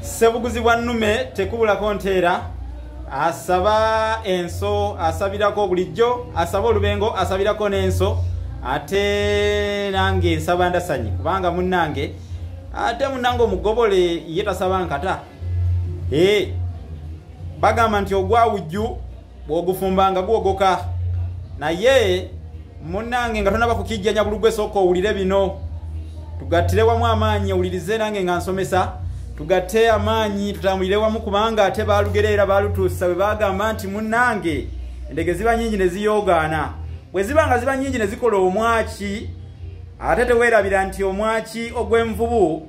ssebuguzi bwa nnume tekubulako nteera asaba enso asabirako bulijjo asaba olubengo asabirako n'enso ate nange nsaba ndasanyi kubanga munnange ate munnange omugobole ye tasaba nkata ee bagamba nti ogwawujju bwogufumba nga gwogoka naye munange nga tonaba kukijjanya bulugwa esooka owulire bino tugattire wamu amaanyi owulirize nange nga nsomesa tugatte amaanyi tutambulire wamu kubanga ate baalugereera baalutuusa bwe bagamba nti munange endege ziba nyingi ne ziyoogaana bwe ziba nga ziba nyingi ne zikola omwaki ate teweerabira nti omwaki ogw'envubu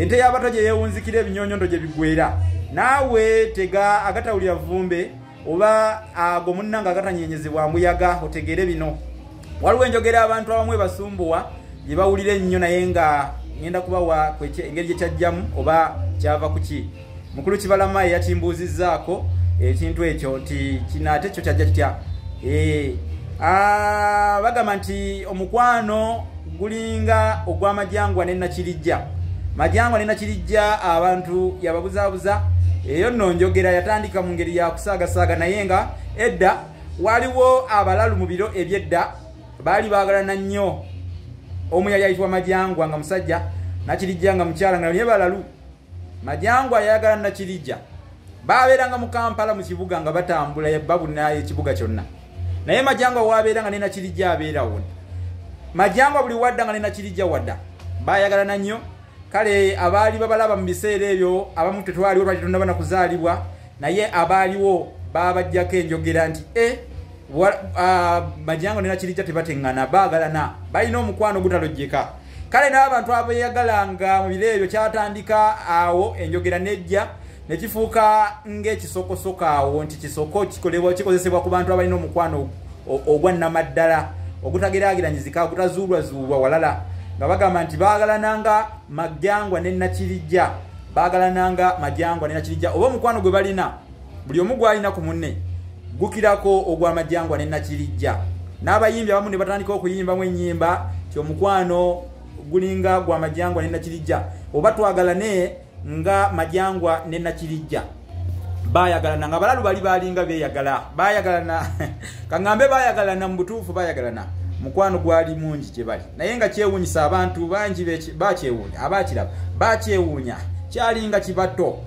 ente y'abato gye yeewunzikira ebinyonyondo gye bigwera naawe tega agatawulira vumbe oba ago munnanga agatanyenyezebwa mbuyaga otegeere bino waliwo enjogera abantu abamu ebasumbuwa gye bawulira ennyo naye nga ŋenda kubawa engeri gye kyajjamu oba kyava ku ki mukulu kibalama eyakimbuuzizzaako ekintu ekyo nti kino ate kyo kyajja kitya eh, ah, bagamba nti omukwano gulinga ogw'amajangwa ne nakirijja majangwa ne nakirijja abantu yababuzaabuza eyo nno njogera yatandika mu ngeri ya kusaagasaaga naye nga edda waliwo abalalu mu biro ebyedda baali baagalana nnyo omu yali ayitibwa majangwa nga musajja nakirijja nga mukyala nga naye balalu majangwa yayagala nakirija babeeranga mu kampala mu kibuga nga batambula babuna ekibuga kyonna naye majangwa wabeera nga nenakirija abeerawo majangwa buli wadda nga nenakirija wadda bayagalana nnyo kale abaali babalaba mu biseera ebyo abamu tetwaliwo lwaki tonaba na kuzaalibwa naye abaaliwo babajjako enjogera nti e eh, majangwa nenakirija tebateŋŋana baagalana balina omukwano ogutalojjeka kale n'abantu abeeyagalanga mu biro ebyo kyatandika awo enjogera n'ejja ne kifuuka ng'ekisokosoka awo nti kisoko kikolebwa kikozesebwa ku bantu abalina omukwano ogwa nnamaddala ogutageraageranyizika ogutazuulwazuulwa walala nga bagamba nti baagalananga majangwa ne nakirijja baagalananga majangwa ne nakirijja oba omukwano gwe balina buli omu gwalina ku munne gukirako ogw'amajangwa ne nakirijja n'abayimbi abamu ne batandika okuyimbamu ennyimba ti omukwano gulinga gwa majangwa ne nakirijja oba twagalane nga majangwa ne nakirijja bayagalana nga balalu bali balinga beyagala bayagalana kaŋŋambe bayagalana mu butuufu bayagalana mukwano gwali mungi gye bali naye nga kyewuunyisa abantu bangi bakyewuunya abakiraba bakyewuunya kyalinga kibato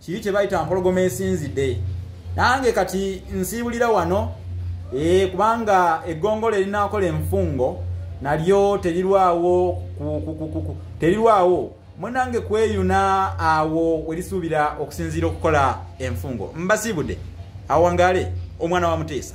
kiri kye bayita mpologoma esinzidde nange kati nsiibulira wano e, kubanga eggongolo erinaakola enfungo nalyo terirwawo terirwawo munange kweyuna awo werisuubira okusinziira okukola enfungo mbasiibudde awangale omwana wa muteesa